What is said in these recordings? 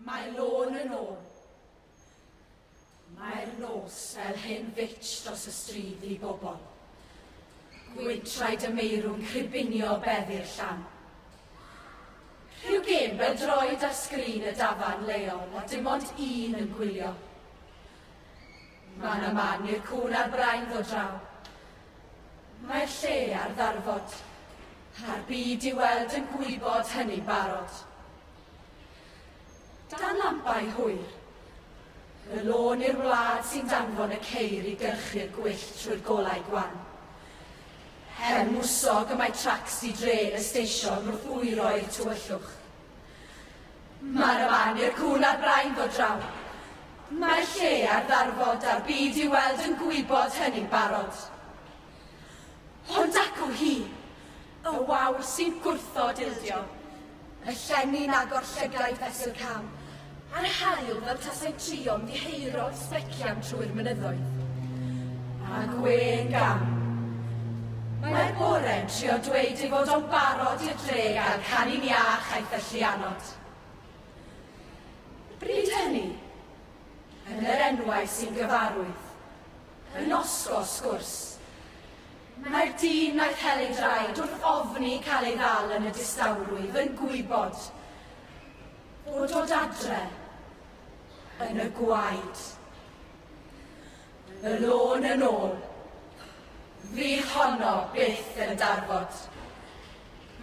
Mae lôn yn ôl. Mae'r nos fel hen fitch dros y stryd i bobl. Gwyntraid y meirw'n cribinio beddi'r llan. Rhyw gêm fel droed ar sgrin y dafarn leol a dim ond un yn gwylio. Mae 'na man i'r cŵn a'r brain ddod draw. Mae'r lle ar ddarfod, a'r byd i weld yn gwybod hynny'n barod. Dan lampau hwyr, y lôn i'r wlad sy'n danfon y ceir i gyrchu'r gwyllt trwy'r golau gwan. Her mwsog y mae tracsi dre y steision wrth wyro i'r tywyllwch. Mae'r aman i'r cŵn a'r brain ddod draw. Mae lle ar ddarfod a'r byd i'w weld yn gwybod hynny'n barod. Hon dacw hi, y wawr sy'n gwrthod ildio, y llenni'n agor llygaid fesul cam, A'r haul fel tasai trio'n ddiheuro sbecian trwy'r mynyddoedd. A gwên gam. Mae'r bore'n trio dweud ei fod o'n barod i'r dre gael canu'n iach a'i thyllu anod. Bryd hynny, yn yr enwau sy'n gyfarwydd, yn osgo sgwrs. Mae'r dyn wnaeth hel ei draed wrth ofni cael ei ddal yn y distawrwydd yn gwybod o dod adre yn y gwaed. Y lôn yn ôl. Fi honno byth yn darfod.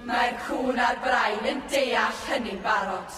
Mae'r cŵn a'r brain yn deall hynny'n barod.